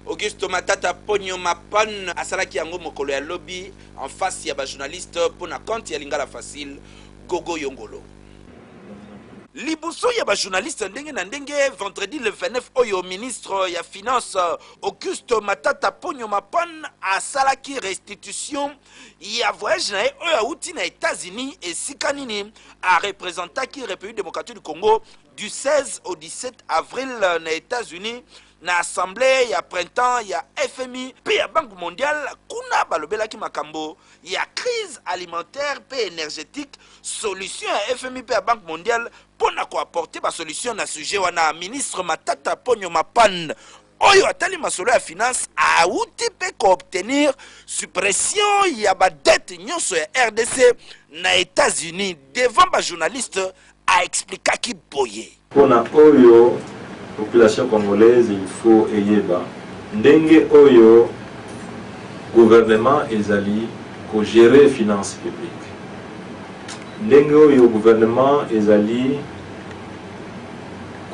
Augusto Matata Ponyo Mapan asalaki yango mokolo ya lobi en face ya ba journalistes mpo na compte ya Lingala Facile, Gogo Yongolo. Liboso ya ba journalistes ndenge na ndenge, vendredi le 29 oyo, ministre ya Finances, Augusto Matata Ponyo Mapan asalaki restitution ya voyage na ye oyo awuti na Etats-Unis, esika nini a representaki Republique Democratique du Congo du 16 au 17 avril na Etats-Unis. Na assemblee ya printemps ya fmi mpe ya Banque mondiale, kuna balobelaki makambo ya crise alimentaire mpe energetique, solution ya fmi mpe ya Banque mondiale mpo na ko apporter ba solutions na sujet wana, ministre Matata Ponyo Mapan, oyo atali masolo ya finances, awuti mpe ko obtenir suppression ya ba dettes nionso ya rdc na Etats-Unis. Devant ba journalistes, a explikaki boye. Pona oyo population congolaise il faut eyeba ndenge oyo gouvernement ezali ko gerer finance publique, ndenge oyo gouvernement ezali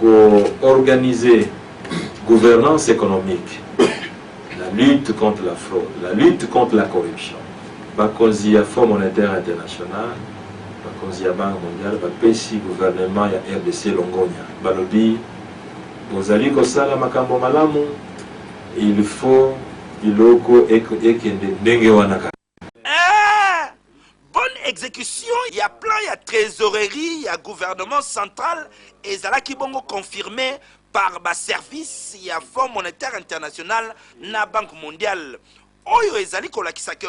ko organiser gouvernance economique. La lutte contre la fraude, la lutte contre la corruption. Bakonzi ya Fonds monetaire international, bakonzi ya Banque mondiale bapesi gouvernement ya rdc longonya. Balobi bozali kosala makambo malamu, il faut biloko ekende ndenge wana kaka. Eeh! Bonne execution ya plan ya tresorerie ya gouvernement central ezalaki bongo confirme par ba services ya Fonds monetaire international na Banque mondiale, oyo ezali kolakisa que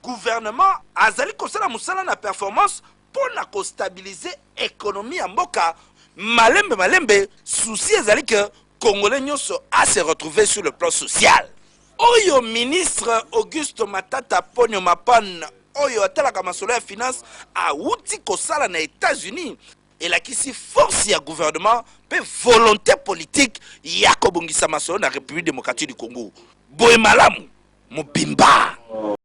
gouvernement azali kosala mosala na performance Mpo na ko stabiliser economie ya mboka malembe malembe, souci ezali que congolais nionso a se retrouver sur le plan social. Oyo ministre Augusto Matata Ponyo Mapan oyo atalaka masolo ya finance awuti kosala na Etats-Unis elakisi force ya gouvernement mpe volonte politique ya kobongisa masolo na Republique democratique du Congo. Boye malamu mobimba.